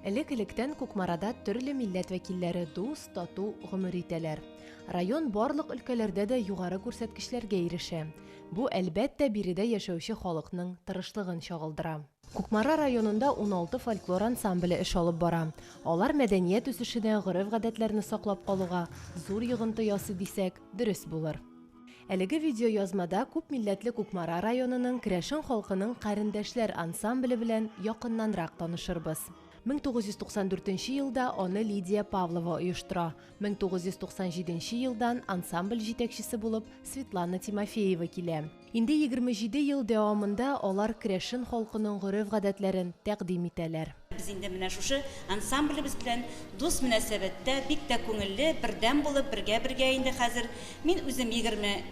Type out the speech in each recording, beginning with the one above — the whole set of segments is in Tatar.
Элек-электән Кукмарада төрле милләт вәкилләре дус, тату гомер итәләр. Район барлык өлкәләрдә дә югары күрсәткечләргә ирешә. Бу, әлбәттә, биредә яшәүче халыкның тырышлыгын чагылдыра. Кукмара районында уналты фольклор ансамбле эш алып бара. Алар мәдәният үсешенә, гореф-гадәтләрне саклап калуга зур йогынты ясый дисәк, дөрес булыр. Әлеге видеоязмада күпмилләтле Кукмара районының керәшен халкының Карендәшләр ансамбле белән якыннанрак танышырбыз. 1994 елда аны Лидия Павлова оештыра, 1997 елдан ансамбль җитәкчесе булып Светлана Тимофеева килә. Инде 27 ел дәвамында алар керәшен халкының гореф-гадәтләрен тәкъдим итәләр. Без инде менә шушы ансамблебез белән дус мөнәсәбәттә, бик тә күңелле, бердәм булып, бергә-бергә инде хәзер. Мин үзем егерме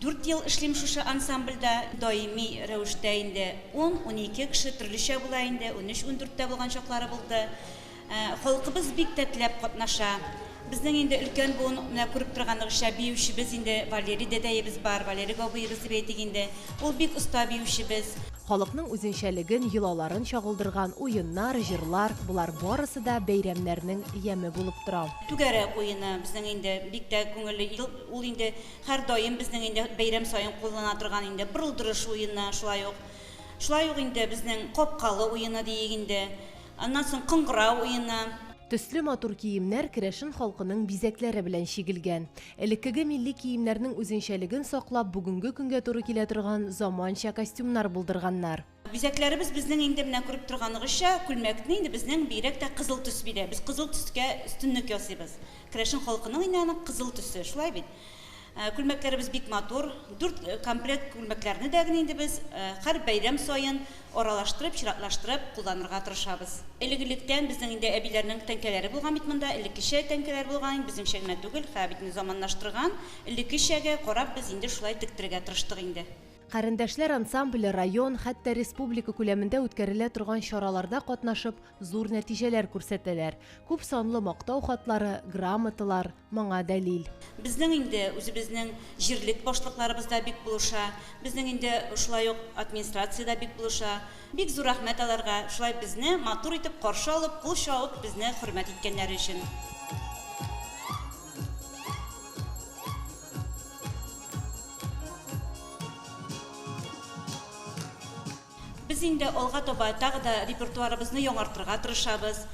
дүрт ел эшлим шушы ансамбльдә. Даими рәвештә инде ун-унике кеше, төрлечә була инде, унөч-ундүрт тә булган чаклары булды. Халкыбыз бик тә теләп катнаша. Безнең инде өлкән буын, менә күреп торганыгызча, биючебез инде Валерий дәдәебез бар, Валерий Габыебыз дип әйтик инде. Ул бик оста биючебез. Халыкның үзенчәлеген, йолаларын чагылдырган уеннар, җырлар, болар барысы да бәйрәмнәрнең яме булып тора. Түгәрәк уены безнең инде бик тә күңелле, ел ул инде һәрдаим безнең инде бәйрәм саен куллана торган инде Бырылдырыш уены шулай ук. Шулай ук инде безнең Капкалы уены диик инде. Аннан соң Кыңгырау уены. Төсле матур киемнәр керәшен халкының бизәкләре белән чигелгән. Элеккеге милли киемнәрнең үзенчәлеген саклап, бүгенге көнгә туры килә торган заманча костюмнар булдырганнар. Бизәкләребез безнең инде менә күреп торганыгызча, күлмәкне инде безнең бигрәк тә кызыл төс бирә. Без кызыл төскә өстенлек ясыйбыз. Керәшен халкының инде аның кызыл төсе, шулай бит? Күлмәкләребез бик матур. Дүрт комплект күлмәкләрне дә генә инде без һәр бәйрәм саен аралаштырып, чиратлаштырып кулланырга тырышабыз. Элек-электән безнең инде әбиләрнең тәңкәләре булган бит монда, элеккечә тәңкәләр булган, безнеңчә генә түгел, һәр битне заманлаштырган. Элеккечәгә карап без инде шулай тектерергә тырыштык инде. Карендәшләр ансамбле район, хәтта республика күләмендә үткәрелә торган чараларда катнашып, зур нәтиҗәләр күрсәтәләр, күп санлы мактау хатлары, грамоталар, моңа дәлил. Безнең инде үзебезнең җирлек башлыкларыбыз да бик булыша, безнең инде шулай ук администрация дә бик булыша. Бик зур рәхмәт аларга, шулай безне матур итеп каршы алып, кул чабып, безне хөрмәт иткәннәре өчен. Без инде алга таба тагы да репертуарыбызны яңартырга тырышабыз.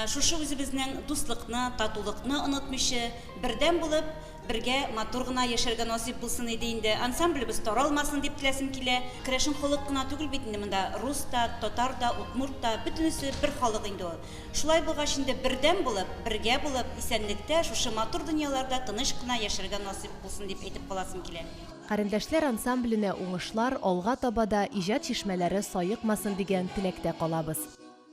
Шушы үзебезнең дуслыкны, татулыкны онытмыйчы, бердәм булып, бергә матур гына яшәргә насыйп булсын иде инде. Ансамблебыз таралмасын дип теләсем килә. Керәшен халык кына түгел бит инде монда, рус та, татар да, удмурт та, бөтенесе бер халык инде ул. Шулай булгач инде бердәм булып, бергә булып, исәнлектә, шушы матур дөньяларда тыныч кына яшәргә насыйп булсын дип әйтеп каласым килә. Карендәшләр ансамбленә уңышлар, алга таба да иҗат чишмәләре саекмасын дигән теләктә калабыз.